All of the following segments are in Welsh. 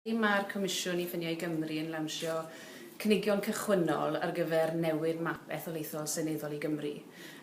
Mae'r Comisiwn i Ffiniau Gymru yn lawnsio cynigion cychwynnol ar gyfer newid map etholaethol seneddol i Gymru.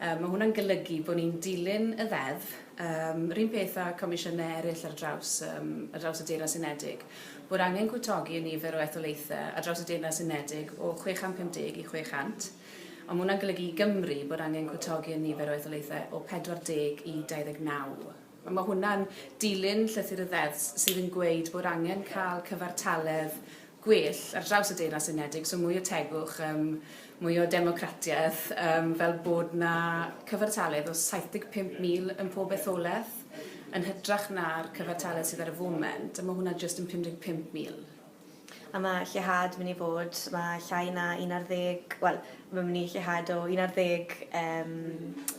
Mae hwnna'n golygu bod ni'n dilyn y Ddeddf, yr un peth â Comisiynau eraill ar draws ar draws y Deyrnas Unedig, bod angen cwtogi y nifer o etholaethau ar draws y Deyrnas Unedig o 650 i 600, ond mae hwnna'n golygu i Gymru bod angen cwtogi y nifer o etholaethau o 40 i 29. Mae hwnna'n dilyn llythyr y Ddeddf sydd yn gweud bod angen cael cyfartaledd gwell ar draws y Deyrnas Unedig, so mwy o tegwch, yym mwy o democratiaeth, yym fel bod 'na cyfartaledd o 75,000 yn pob etholaeth, yn hytrach na'r cyfartaledd sydd ar y foment, a mae hwnna jyst yn 55,000. A mae lleihad mynd i fod, mae llai na un ar ddeg, wel, mae'n mynd i lleihad o un ar ddeg um,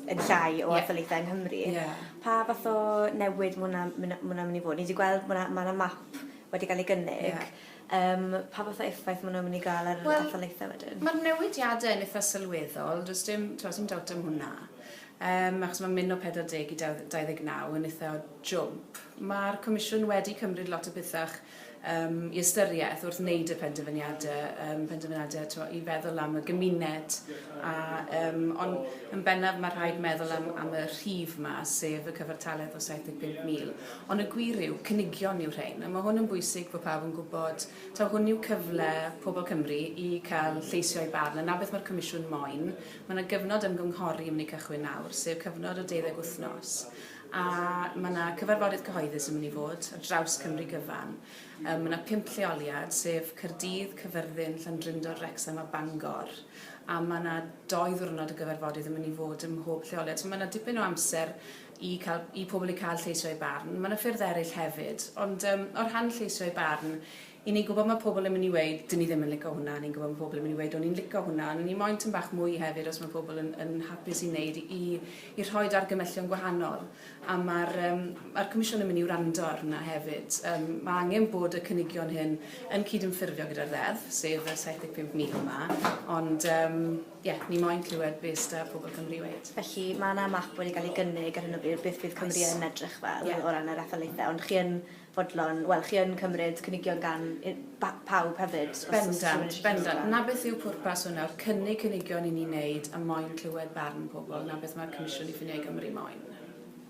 yn llai o yeah. athletau yng Nghymru. Yeah. Pa fath o newid mae hwnna'n mynd i fod? Ni wedi gweld mae yna map wedi cael ei gynnig. Yeah. Um, pa fath o effaith mae hwnna'n mynd i gael ar well, athletau wedyn? Mae'r newidiadau yn eitha sylweddol, does dim, does dim dawt am hwnna. Um, achos mae'n mynd o 40 i 29 yn eitha jwmp. Mae'r Comisiwn wedi cymryd lot o bethau um, i ystyriaeth wrth wneud y penderfyniadau, um, penderfyniadau to, i feddwl am y gymuned. A, um, ond yn bennaf mae rhaid meddwl am, am y rhif yma, sef y cyfartaledd o 75,000. Ond y gwir yw, cynigion yw rhain. A mae hwn yn bwysig bod pawb yn gwybod, taw hwn yw cyfle pobl Cymru i cael lleisio ei barn. Yna beth mae'r Comisiwn moyn. Mae yna gyfnod ymgynghori yn mynd i cychwyn nawr, sef cyfnod o deuddeg wythnos. A mae 'na cyfarfodydd cyhoeddus yn mynd i fod ar draws Cymru gyfan. Mae 'na pump lleoliad, sef Caerdydd, Cyfyrddin, Llandrindod, Wrecsam a Bangor. A mae 'na doi ddiwrnod o gyfarfodydd yn mynd i fod ym mhob lleoliad. So mae 'na dipyn o amser i, cael, i pobl i cael lleisio eu barn. Mae 'na ffyrdd eraill hefyd. Ond um, o'r rhan lleisio eu barn, I ni'n gwybod mae pobl yn mynd i weud dyn ni ddim yn lico hwnna, ni'n gwybod mae pobl yn mynd i weud o'n i'n lico hwnna, ond o'n i moyn tyn bach mwy hefyd os mae pobl yn yn hapus i wneud i i rhoid argymellion gwahanol a mae'r yym mae'r Comisiwn yn mynd i wrando ar hwnna hefyd. Yym mae angen bod y cynigion hyn yn cydymffurfio gyda'r ddeddf, sef y 75,000 yma, ond yym ie, ni moyn clywed be s'da pobl Cymru i weud. Felly mae yna map wedi cael ei gynnig ar hyn o bryd beth bydd Cymru yn edrych fel o ran yr etholaethau, ond chi yn fodlon, wel, chi yn cymryd cynigion gan pawb hefyd. Bendant, bendant. 'na beth yw pwrpas hwn nawr, cynnig cynigion i ni wneud a moyn clywed barn pobl, 'na beth mae'r Comisiwn i Ffiniau Cymru moyn.